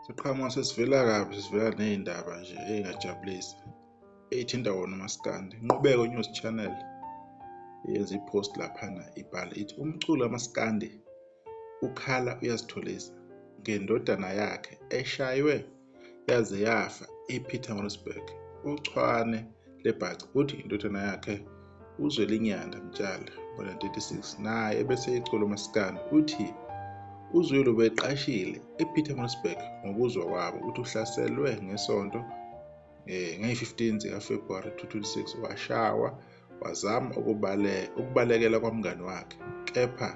siqhamuka sesivela kabi sivela ney'ndaba nje ey'ngajabulisi eyithinta wona umaskandi inqubeko news channel yenza ipost laphana ibhala ithi umculo kamaskandi ukhala uyazitholisa ngendodana yakhe eshaywe yaze yafa ePietermaritzburg. Uchwane lebhaca uthi indodana yakhe uZwelinyanda Mtshali ngo-1936 naye ebese ecula umasikandi uthi uzwelo beqashile epietermaritzburg ngokuzwa kwabo ukuthi uhlaselwe ngesonto um ngeyi-15 zikafebruwari 2026 washawa Wazama ukubale, ukubalekela kwamngani wakhe, kepha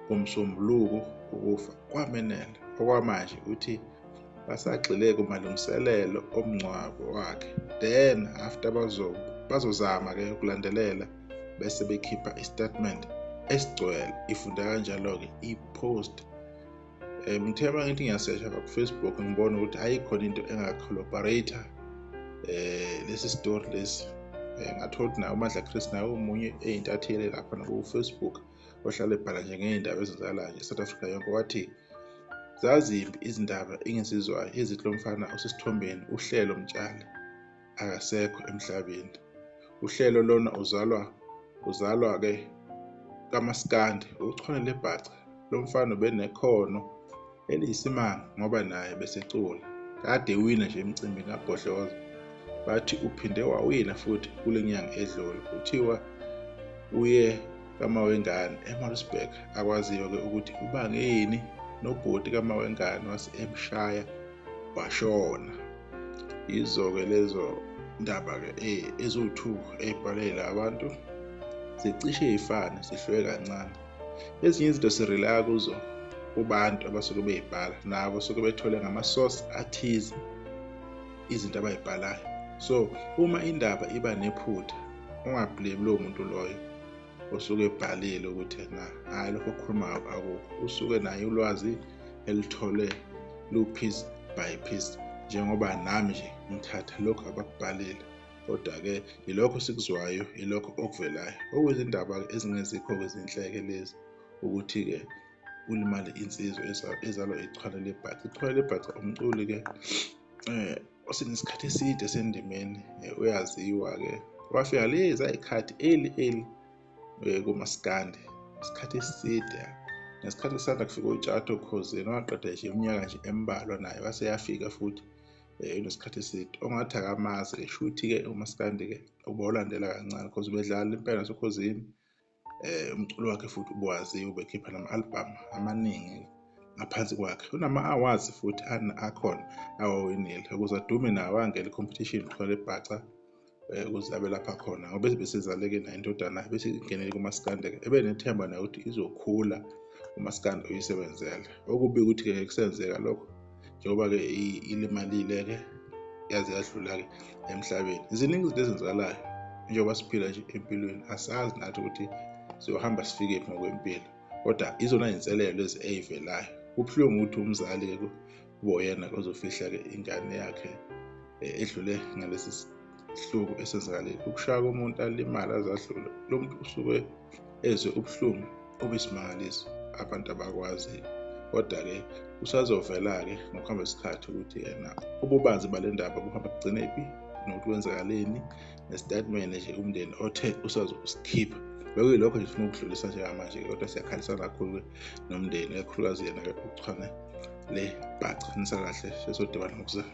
ngomsombuluko ukufa kwamenela. Okwamanje uthi basagxile kumalungiselelo omngcwabo wakhe then after bazozama ke ukulandelela bese bekhipha istatement esigcwele ifunde kanjalo-ke i-post um ngithe uma ngithi ngiyasesha lapha kufacebook ngibona ukuthi ayikhona into engacollaborate um eh, lesi story lesi um ngathola ukuthi naye umadla chris naye omunye eyintatheli lapha nakufacebook ohlale ebhala nje ngey'ndaba ezenzakalayo nje south africa yonke wathi zazimbi izindaba engizizwayo ezithi lo mfana osesithombeni uhlelo mtshale akasekho emhlabeni uhlelo lona uzalwa uzalwa ke kamaskandi uchwane lebhaca lomfana ubenekhono eliyisimanga ngoba naye besecula kade wina nje emcimbini kabhodloza bathi uphinde wawina futhi kule nyanga edlule kuthiwa uye kamawengane emaritzburg akwaziyo-ke ukuthi ubangeni nobhuti kamawengane wase emshaya bashona yizo-ke lezo ndaba-ke eh, eziwu-two ey'bhalela abantu zicishe y'fane zihluke kancane ezinye izinto sirelaya kuzo kubantu abasuke beyibhala nabo suke bethole ngamasource athize izinto abayibhalayo so uma indaba iba nephutha ungablame lowo muntu loyo usuke ebhalile ukuthi na hhayi lokho okhulumayo akukho usuke naye ulwazi elithole lu-piece by piece njengoba nami nje ngithatha lokhu abakubhalile kodwa-ke yilokho sikuzwayo yilokho okuvelayo okuyizindaba-ke ezingezikho kwezinhleke lezi ukuthi-ke ulimale insizwa ezalwa ichwane lebhaca ichwane lebhaca umculi-ke um osenesikhathi eside sendimeni eh, uyaziwa-ke wafika lezi ayikhathi eli eli eh, kumasikandi isikhathi eside ngesikhathi kusanda kufika utshato khozini waqeda nje iminyaka nje embalwa naye wase yafika futhi eh, unesikhathi eside ongathi akamazi-ke shuthi-ke umasikandi-ke uba ulandela kancane because ubedlala impela nasokhozini eh umculo wakhe futhi ubuwazi ubekhipha nama album amaningi ngaphansi kwakhe unama awards futhi akhona awawinile ukuze adume nawo angele competition khona ebhaca eh, ukuze abe lapha khona ngoba besizaleke nayo indodana bese ingenele kumaskande ebe nethemba nayo ukuthi izokhula umaskande uyisebenzele okubi ukuthi-ke kusenzeka lokho njengoba-ke ilimalile-ke yaze yadlula-ke emhlabeni ziningi izinto ezenzakalayo njengoba siphila nje empilweni asazi nathi ukuthi siyohamba sifikephi ngokwempilo kodwa izona zinselelo lezi eyivelayo kubuhlungu ukuthi umzali-ke kuboyena ozofihla-ke ingane yakhe eh, edlule ngalesi isihluku esenzakalile ukushaya komuntu alimala azadlule lo muntu usuke ezwe ubuhlungu obesimangaliso abantu abakwaziyo kodwa-ke kusazovela-ke ngokuhamba isikhathi ukuthi yena ububanzi bale ndaba buhamba kugcine phi nokuthi kwenzakaleni nesitatimende nje umndeni othe usazokusikhipha bekuyilokho nje funa ukudlulisa njengamanje kodwa siyakhalisa kakhulu-ke nomndeni kakhulukazi yena-ke ukuchwane le bhaca nisakahle sesodibana ngokuzayo